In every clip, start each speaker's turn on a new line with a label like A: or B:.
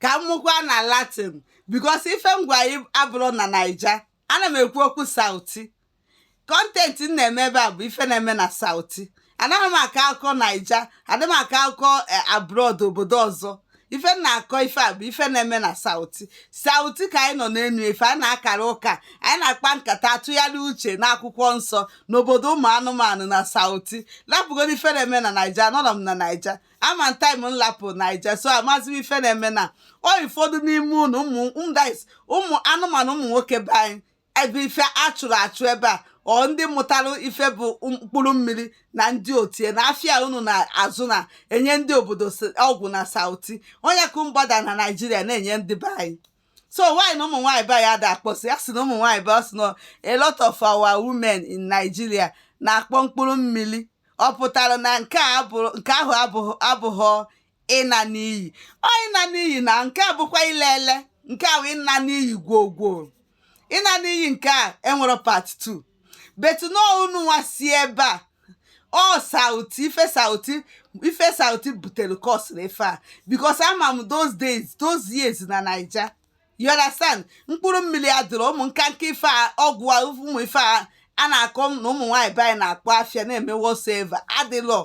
A: ka m mụkwa na latin because ife m gwa anyị abụrọ na naija ana m ekwu okwu sauti content m na-eme ebe a bụ ife na-eme na sauti anaghị m akọ akụkọ naija adị m akọ akụkọ abroad obodo ọzọ ife m na-akọ ife a bụ ife na-eme na sauti sauti ka anyị nọ n'enu ife anyị na-akara ụka anyị na-akpa nkata atụgharị uche n'akwụkwọ nsọ n'obodo ụmụ anụmanụ na sauti lapụgodu ife na-eme na naija anọrọ m na naija ama m time m lapụ naija so amazi m ife na-eme na ọ ụfọdụ n'ime unu ụmụ ụmụdais ụmụ anụmanụ ụmụ nwoke be anyị ebe ife a chụrụ achụ ebe a ọ ndị mụtara ife bụ mkpụrụ mmiri na ndị otie na afịa unu na-azụ na enye ndị obodo s- ọgwụ na sauti onye ka mgbada na naijiria na-enye ndị be anyị so why na ụmụ nwaanyị be anyị ada akpọsị ya sị na ụmụ nwaanyị be ọ sị na a lot of our women in nigeria na-akpọ mkpụrụ mmiri ọ pụtara na nke ahụ abụghọ ịna n'iyi ọ ịna n'iyi na nke a bụkwa ile ele nke a bụ ịna n'iyi gwoo gwoo ịna n'iyi nke a enwerọ part 2 but na ọ unu nwa si ebe a ọ sauti ife sauti ife sauti butere kọsịrị ife a because ama m those days those years na naija you understand mkpụrụ mmiri adịrọ ụmụ nkanka ife a ọgwụ a ụmụ ife a a na-akọ na ụmụ nwaanyị be anyị na-akpọ afịa na-eme whatsoever adịlọ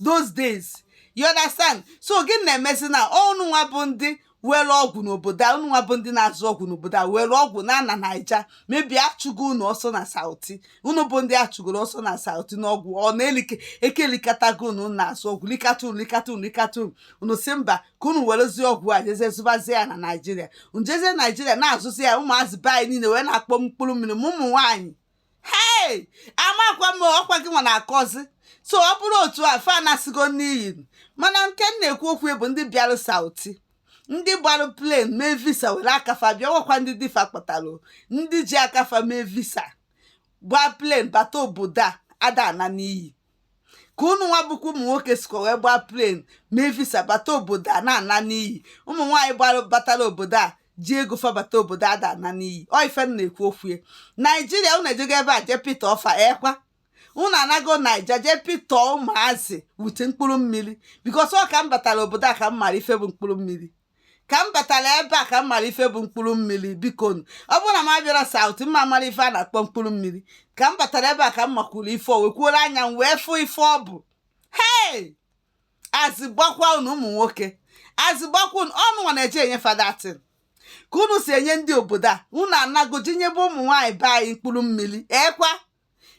A: those days you understand so gị na-emezi na unu nwa bụ ndị were ọgwụ n'obodo a unu nwa bụ ndị na-azụ ọgwụ n'obodo a were ọgwụ na-ana naija mebie achụgo unu ọsọ na sauti unu bụ ndị achụgoro ọsọ na sauti n'ọgwụ ọ na-elike ekelikatago unu na-azụ ọgwụ likata unu likata unu likata unu unu si mba ka unu werezie ọgwụ a jezie zụbazie ya na naijiria njezie naijiria na-azụzi ya ụmụazị be anyị niile wee na-akpọ mkpụrụ mmiri ma ụmụ nwaanyị hei amakwa m ọkwa gị nwa na-akọzi so ọ bụrụ otu a fa anasịgo n'iyi mana nke m na-ekwu okwu bụ ndị bịara sauti ndị gbara plane mee visa were aka fa bịa nwekwa ndị di fa kpọtara ndị ji aka fa mee visa gbaa plane bata obodo a ada ana n'iyi ka ụnụ nwa bụkwa ụmụ nwoke sikwa wee gbaa plane mee visa bata obodo a na-ana n'iyi ụmụ nwaanyị gbara batara obodo a ji ego fa bata obodo a ada ana n'iyi ọ ife m na-ekwu okwu ya naijiria ụnụ ejego ebe a jee pita ọfa ekwa ụnụ anago naija jee pita ụmụazị wute mkpụrụ mmiri because ọ ka m batara obodo a ka m mara ife bụ mkpụrụ mmiri ka m batara ebe a ka m mara ife bụ mkpụrụ mmiri biko nu ọ bụrụ na m abịarọ sauti m ma mara ife a na-akpọ mkpụrụ mmiri ka m batara ebe a ka m makwuru ife o wekwuola anya m wee fụ ife ọ bụ hei azị gbakwa unu ụmụ nwoke azị gbakwa unu unu nwa na-eje enye fa that thing ka unu si enye ndị obodo a unu anago jee nyebe ụmụ nwaanyị be anyị mkpụrụ mmiri ekwa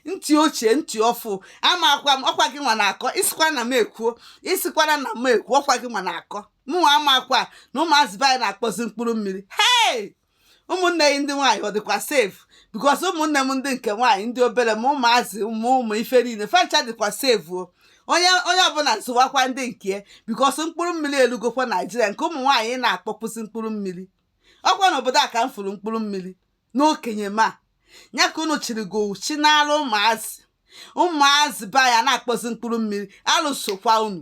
A: ntị ochie ntị ọfụ amakwa m ọkwa gị nwa na-akọ ị sịkwa na m ekwuo ị sịkwara na m ekwuo ọkwa gị nwa na-akọ mụnwa amakwa na ụmụazị be anyị na-akpọzi mkpụrụ mmiri hei ụmụnne gị ndị nwaanyị ọ dịkwa safe because ụmụnne m ndị nke nwaanyị ndị obere ma ụmụazị ụmụ ụmụ ife niile fa ncha dịkwa safe o onye onye ọbụla zụwakwa ndị nke because mkpụrụ mmiri elugokwa naijiria nke ụmụ nwaanyị na-akpọpụzi mkpụrụ mmiri ọkwa n'obodo a ka m fụrụ mkpụrụ mmiri n'okenye ma nya ka unu chịrị gị owu chi n'ala ụmụazị ụmụazị be anyị a na-akpọzi mkpụrụ mmiri alụ sokwa unu